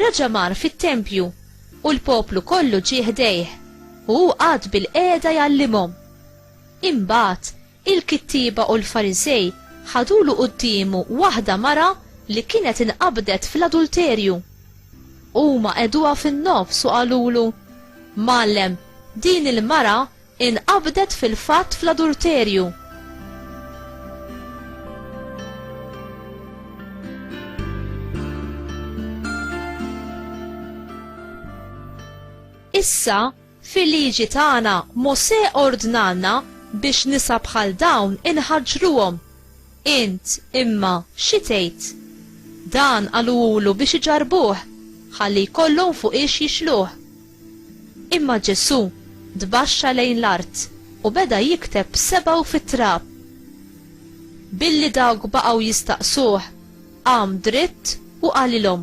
Raġa' mar fit-tempju, u l-poplu kollu ġie ħdejh, u hu qagħad bilqiegħda jgħallimhom. Imbagħad, il-kittieba u l-Farisej ħadulu quddiemu waħda mara li kienet inqabdet fl-adulterju. Huma qegħduha fin-nofs u qalulu, Mgħallem, din il-mara Inqabdet fil-fatt fl-adulterju. Issa, fil-liġi tagħna Mosè ordnalna biex nisa bħal dawn inħaġġruhom. Int, imma, xi tgħid? Dan qaluhulu biex iġarrbuh, ħalli jkollhom fuqiex jixluh. Imma Ġesù tbaxxa lejn l-art u beda jikteb b'sebgħu fit-trab. Billi dawk baqgħu jistaqsuh, qam dritt u qalilhom,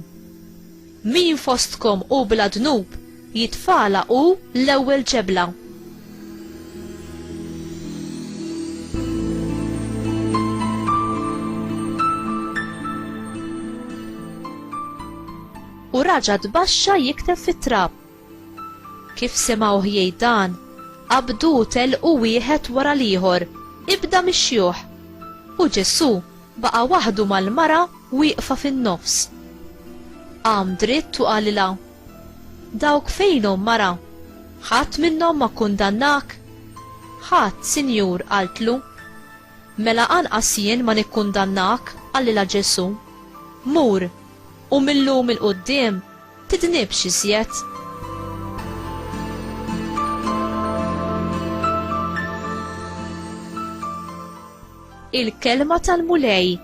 Min fostkom hu bla dnub, jitfagħla hu l-ewwel ġebla. U raġa' tbaxxa jikteb fit-trab. Kif semgħuh jgħid dan, qabdu u tellqu wieħed wara l-ieħor, ibda mix-xjuħ. U Ġesù baqa' waħdu mal-mara wieqfa fin-nofs. Qam dritt u qalilha, Dawk fejnhom, mara? Ħadd minnhom ma kkundannak? Ħadd, Sinjur, qaltlu. Mela anqas jien ma nikkundannak, qalilha Ġesù. Mur, U mil-lum il-quddiem tidnibx iżjed. il-kelma tal-Mulej,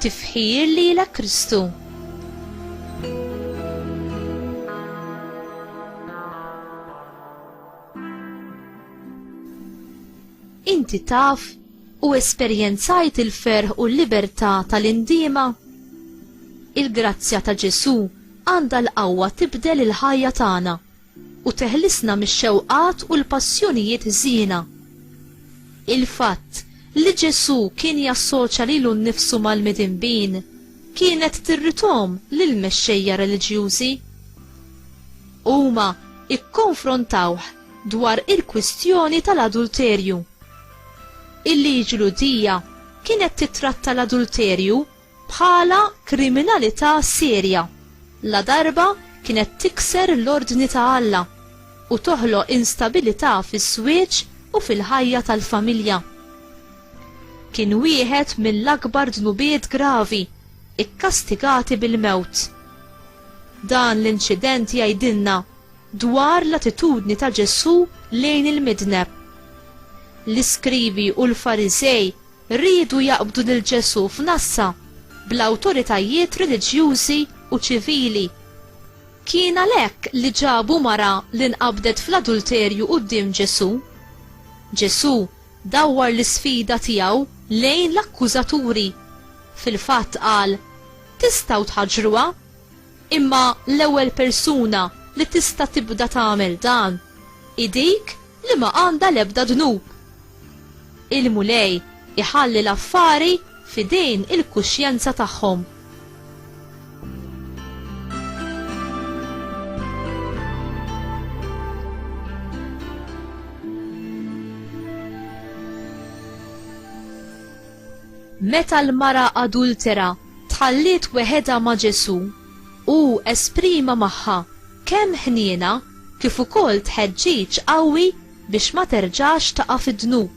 tifħir li la Kristu. Inti taf U esperjenzajt il-ferħ u l-libertà tal-indiema? Il-grazzja ta' Ġesù għandha l-qawwa tibdel il-ħajja tagħna u teħlisna mix-xewqat u l-passjonijiet ħżiena. Il-fatt li Ġesù kien jassoċja lilu nnifsu mal-midinbin kienet tirrithom lill-mexxejja reliġjużi. Huma kkonfrontawh dwar il-kwistjoni tal-adulterju. Il-liġi Lhudija kienet tittratta l-adulterju bħala kriminalità serja ladarba kienet tikser l-ordni ta' Alla u toħloq instabilità fiż-żwieġ u fil-ħajja tal-familja. Kien wieħed mill-akbar dnubiet gravi kkastigati bil-mewt. Dan l-inċident jgħidilna dwar l-attitudni ta' Ġesù lejn il-midneb. L-iskrivi u l-Fariżej riedu jaqbdu lil Ġesù f'nassa bl-awtoritajiet reliġjużi u ċivili. Kien għalhekk li ġabu mara li nqabdet fl-adulterju quddiem Ġesù. Ġesù dawwar l-isfida tiegħu lejn l-akkużaturi. Fil-fatt qal, Tistgħu tħaġġruha? Imma l-ewwel persuna li tista' tibda tagħmel dan hi dik li ma għandha l-ebda dnub. Il-Mulej iħalli l-affari f'idejn il-kuxjenza tagħhom. Meta l-mara adultera tħalliet weħedha ma' Ġesù, hu esprima magħha kemm ħniena kif ukoll tħeġġiġ qawwi biex ma terġax taqa' fid-dnub.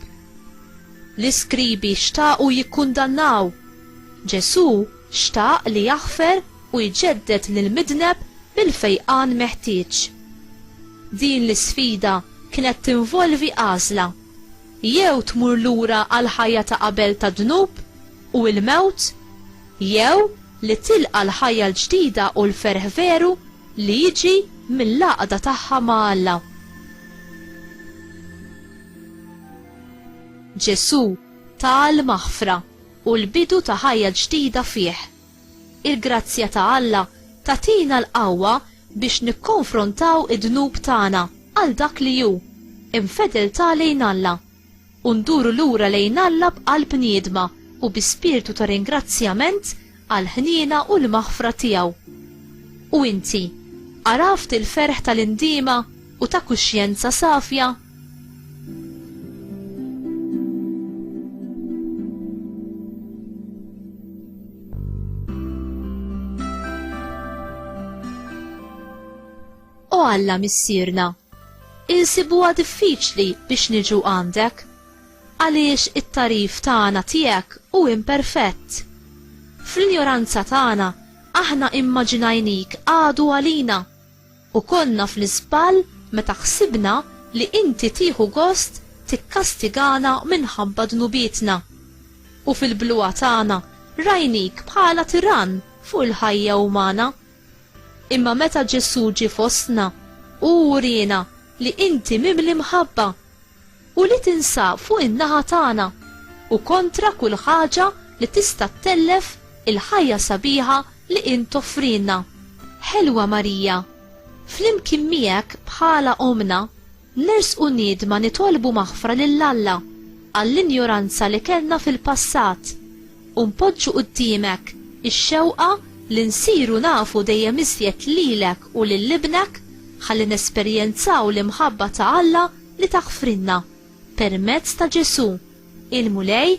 L-iskribi xtaqu jikkundannaw, Ġesù xtaq li jaħfer u jġedded lill-midneb bil-fejqan meħtieġ. Din l-isfida kienet tinvolvi għażla, jew tmur lura għall-ħajja ta' qabel tad-dnub, u l-mewt, jew li tilqa' l-ħajja l-ġdida u l-ferħ veru li jiġi mill-għaqda tagħha ma' Alla. Ġesù ta l-maħfra u l-bidu ta' ħajja ġdida fih. Il-grazzja ta' Alla tagħtina l-qawwa biex nikkonfrontaw id-dnub tagħna għal dak li hu, infedeltà lejn Alla. u nduru lura lejn Alla b'qalb niedma u bi spirtu ta' ringrazzjament għall-ħniena u l-maħfra tiegħu. U inti, għaraft il-ferħ tal-indiema u ta' kuxjenza safja? O Alla Missierna, insibuha diffiċli biex niġu għandek, għaliex it-tagħrif tagħna tiegħek hu imperfett. Fl-injoranza tagħna aħna immaġinajnik għadu għalina, u konna fl-iżball meta ħsibna li inti tieħu gost tikkastigana minħabba dnubietna, u fil-bluha tagħna rajnik bħala tirann fuq il-ħajja umana. Imma meta Ġesù ġie fostna, hu wriena li inti mimli mħabba u li tinsab fuq in-naħa tagħna u kontra kull ħaġa li tista' ttellef il-ħajja sabiħa li int toffrilna. Ħelwa Marija, flimkien miegħek bħala Ommna, Nersqu niedma nitolbu maħfra lil Alla għall-injoranza li kellna fil-passat u npoġġu quddiemek ix-xewqa li nsiru nafu dejjem iżjed lilek u lil Ibnek ħalli nesperjenzaw l-imħabba ta' Alla li taħfrilna permezz ta' Ġesù, il-Mulej